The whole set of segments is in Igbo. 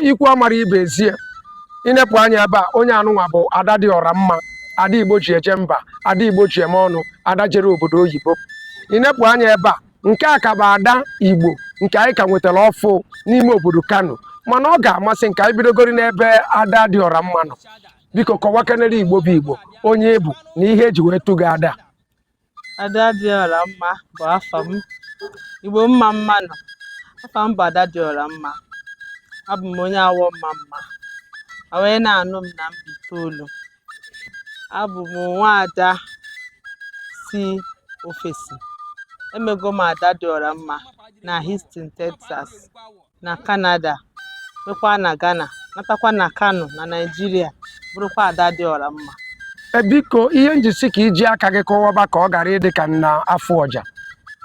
ikwu amara ibe ezie i nepụ anya ebe a onye anụnwa bụ ada dị ọra mma ada igbo ji eje mba ada igbo ji eme ọnụ ada jere obodo oyibo i nepụ anya ebe a nke a ka bụ ada igbo nke anyị ka nwetara ọfụ n'ime obodo kano mana ọ ga-amasị nke anyị bidogori n'ebe ada dị ọra mma nọ biko kọwakenere igbo bụ igbo onye ị bụ na ihe eji wee tụ gị ada Ada dị ọra mma bụ afa m. Igbo mma mma nụ. Afa m bụ Ada dị ọra mma. Abụ m onye Awọ Ọmamma. A wee na-anụ m na Mbaitoolu. Abụ m nwaada si ofesi. Emego m Ada dị ọra mma na Houston, Texas. na Kanada, bịakwa na Ghana, natakwa na Kano na Naịjirịa, bụrụkwa ada dị ọra mma. E, biko ihe m ji sị ka i ji aka gị kọwaba ka ọ ghara ịdị ka m na-afụ ọja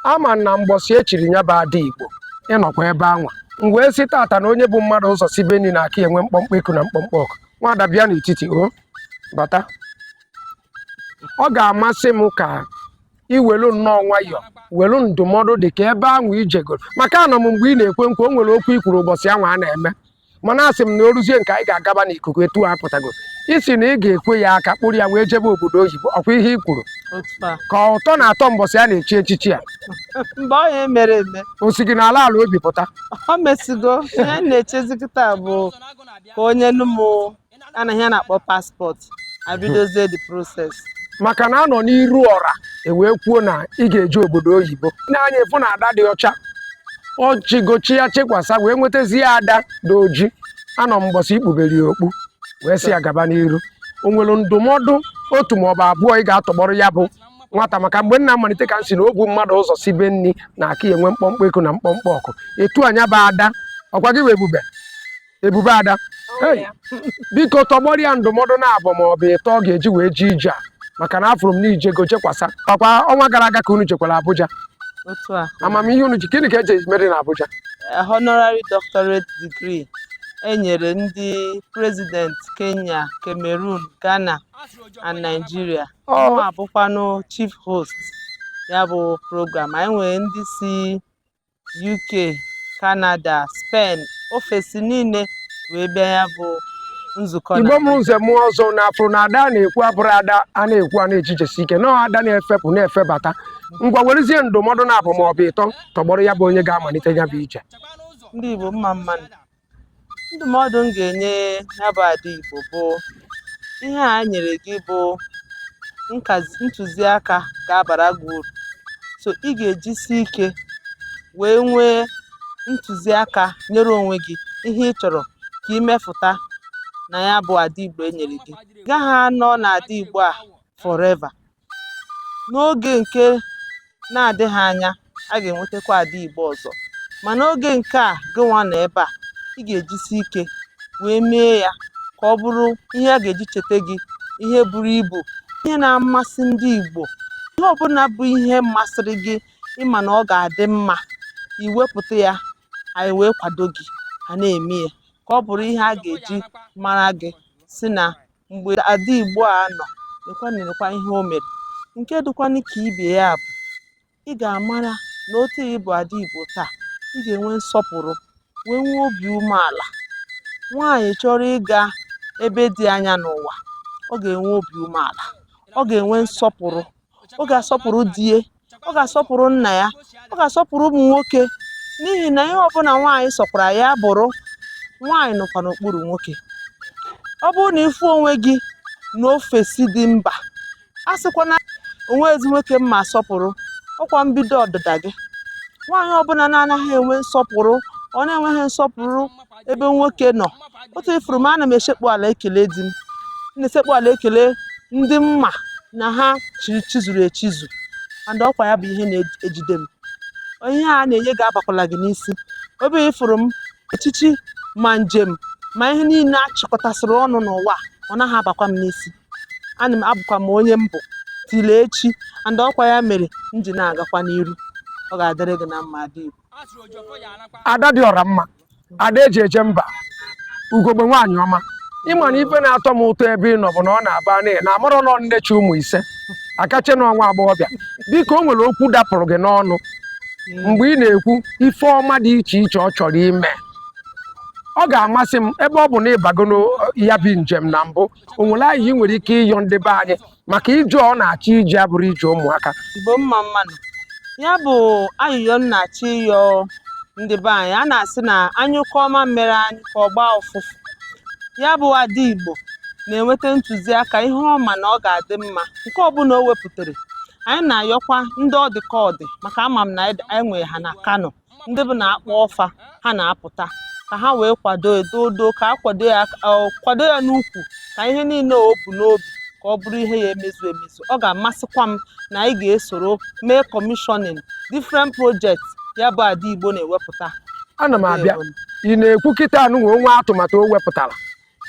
a ma na mbọsị e chiri ya bụ ada Igbo ị nọkwa ebe anwa m wee sị tata na onye bu mmadụ ụzọ sibe nni na-aka ya enwe mkpọmkpọ eku na mkpọmkpọ ọkụ nwaada bịa n'etiti o bata ọ ga-amasị m ka i welu nnọọ nwayọọ welu ndụmọdụ dị ka ebe anwa i jegoro maka anọ m mgbe ị na-ekwe nkwa o nwere okwu i kwuru mbọsị anwa a na-eme mana asị m na o ruzie nke anyị ga-agaba n'ikuku etu a pụtago ị sị na ị ga-ekwe ya aka kpụrụ ya wee jebe obodo oyibo ọkwa ihe i kwuru ka ụtọ na-atọ mbọsị a na-echi echichi a mgbe ọ ya mere eme o si gị n'ala ala obi pụta o mesigo ihe na-echezi kịta bụ ka onye nụ m a na ihe a na-akpọ passport e bidozie the process maka na a nọ n'iru ọra e wee kwuo na ị ga-eje obodo oyibo na-anya efu na ada dị ọcha echigo chie ya chikwasa wee nwetazie ada dị oji anọ m mbọsị i kpubere ya okpu wee sị ya gaba n'iru o nwere ndụmọdụ otu ma ọ bụ abụọ ị ga-atọgbọrọ ya bụ nwata maka mgbe m na-amalite ka m sị na obu mmadụ ụzọ sibe nni na-aka ya enwe mkpọmkpọ eku na mkpọmkpọ ọkụ etu a nya bụ ada ọkwa gị wee ebube ebube ada biko tọgbọrọ ya ndụmọdụ naabọ ma ọ bụ ịtọ ọ ga-eji wee jee ije a maka na afụrụ m na i jego jekwasa ọkwa ọnwa gara aga ka unu jekwara Abuja amamihe unu ji gịnị ka eji mere na Abuja eh, honorary doctorate degree enyere ndị president Kenya Cameroon Ghana and Nigeria oh. m bụkwanụ chief host ya bụ program anyị nwere ndị si UK Canada Spain ofesi niile wee bịa ya bụ nzukọ na igbo mụrụ nze mụọ ọzọ na afụrụ na ada a na-ekwu abụrụ ada a na-ekwu a na-ejejesi ike na ada na-efepụ na-efebata ngwa werezie ndụmọdụ naabọ ma ọ bụ ịtọ tọgbọrọ ya bụ onye ga-amalite ya bụ ije ndị Igbo mma mma nụ ndụmọdụ m ga-enye ya bụ ada Igbo bụ ihe a nyere gị bụ ntụziaka ga-abara gị uru so ị ga-ejisi ike wee nwee ntụziaka nyere onwe gị ihe ị chọrọ ka ị mefụta na ya bụ ada Igbo enyere gị gaghị anọ na ada Igbo a forever n'oge nke na-adịghị anya a ga-enwetakwa ada igbo ọzọ ma n'oge nke a gịnwa nọ ebe a ị ga-ejisi ike wee mee ya ka ọ bụrụ ihe a ga-eji cheta gị ihe buru ibu ihe na-amasị ndị igbo ihe ọbụla bụ ihe masịrị gị ị ma na ọ ga-adị mma i wepụta ya anyị wee kwado gị a na-eme ya ka ọ bụrụ ihe a ga-eji mara gị si na mgbe ada Igbo a nọ nekwa nekwa ihe o mere nke dịkwanụ ka ibe ya bụ ị ga-amara na otu ị bụ ada Igbo taa ị ga-enwe nsọpụrụ wee nwee obi umeala nwaanyị chọrọ ịga ebe dị anya n'ụwa ọ ga-enwe obi umeala ọ ga-enwe nsọpụrụ ọ ga-asọpụrụ di ya ọ ga-asọpụrụ nna ya ọ ga-asọpụrụ ụmụ nwoke n'ihi na ihe ọbụla nwaanyị sọkwara ya bụrụ nwaanyị nọkwa n'okpuru nwoke ọ bụrụ na ị fụ onwe gị na ofesi dị mba asịkwana o nweezi nwoke m ma-asọpụrụ ọ kwa mbido ọdịda gị nwaanyị ọbụla na-anaghị enwe nsọpụrụ or na-enweghị nsọpụrụ ebe nwoke nọ otu ị fụrụ m ana m esekpu ala ekele di m na-esekpu ala ekele ndị m ma na ha chizuru echizu and ọkwa ya bụ ihe na-ejide m ihe a na-enye gị abakwala gị n'isi ebe ị fụrụ m echichi ma njem ma ihe niile a chịkọtasịrị ọnụ n'ụwa ọ naghị abakwa m n'isi ana m abụkwa m onye m bụ till echi and ọkwa ya mere m ji na-agakwa n'iru ọ ga-adịrị gị na mma ada igbo ada dị ọra mma ada eji eje mba ugogbe nwaanyị ọma ị ma na ife na-atọ m ụtọ ebe ị nọ bụ na ọ na-abụ na na amarọ na ọ nne chị ụmụ ise a ka eche na ọ nwa agbọghọbịa dịka o nwere okwu dapụrụ gị n'ọnụ mgbe ị na-ekwu ife ọma dị iche iche ọ chọrọ ime ọ ga-amasị m ebe ọ bụ na ị bago ya bụ njem na mbụ o nwere ayịyọ ị nwere ike ịyọ ndị be anyị maka ije ọ na-achọ ije abụrọ ije ụmụaka igbo mma mmanụ ya bụ ayịyọ m na-achọ ịyọ ndị be anyị a na-asị na a nyụkọọ mamịrị ọnụ ka ọ gbaa ụfụfụ ya bụ ada igbo na-enweta ntụziaka ihe ọ ma na ọ ga-adị mma nke ọbụla o wepụtara anyị na-ayọkwa ndị ọ dị ka ọ dị maka ama m na anyị nwere ha na kano ndị bụ na akpọọ fa ha na-apụta ka ha wee kwado edodo ka a kwado ya n'ukwu ka ihe niile o bu n'obi ka ọ bụrụ ihe ya emezu emezu ọ ga-amasịkwa m na anyị ga-esoro mee commissioning different projects ya bụ ada igbo na-ewepụta ana m abịa ị na-ekwu kịta anụnwa o nwee atụmatụ o wepụtara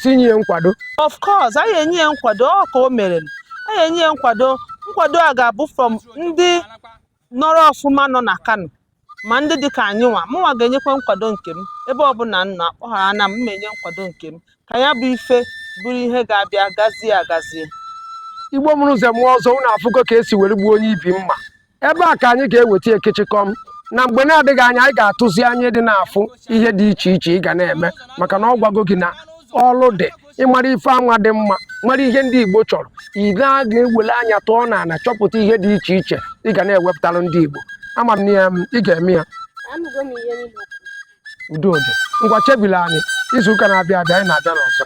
sị nye ya nkwado of course anyị enye ya nkwado ọ ka o mere anyị enye ya nkwado nkwado a ga-abụ from ndị nọrọ ọfụma nọ na kano ma ndị dị ka anyị nwa mụnwa ga-enyekwa nkwado nke m ebe ọbụla m nọ akpọghara na m na-enye nkwado nke m ka ya bụ ife bụrụ ihe ga-abịa gazie agazie igbo mụrụ nze mụọ ọzọ unu afụgo ka esi were gbuo onye ibi mma ebe a ka anyị ga-eweta ekechikọm na mgbe na-adịghị anya anyị ga-atụzi anya ịdị na-afụ ihe dị iche iche ị ga na-eme maka na ọ gwago gị na ọlụ dị ịmara ife anwa dị mma mara ihe ndị igbo chọrọ ị ga na-ewele anya tọọ na ala chọpụta ihe dị iche iche ị ga na-ewepụtara ndị igbo ama m na ị ga-eme ya udo dị ngwa chebila anyị izu ụka na-abịa abịa anyị na-abịa n'ọzọ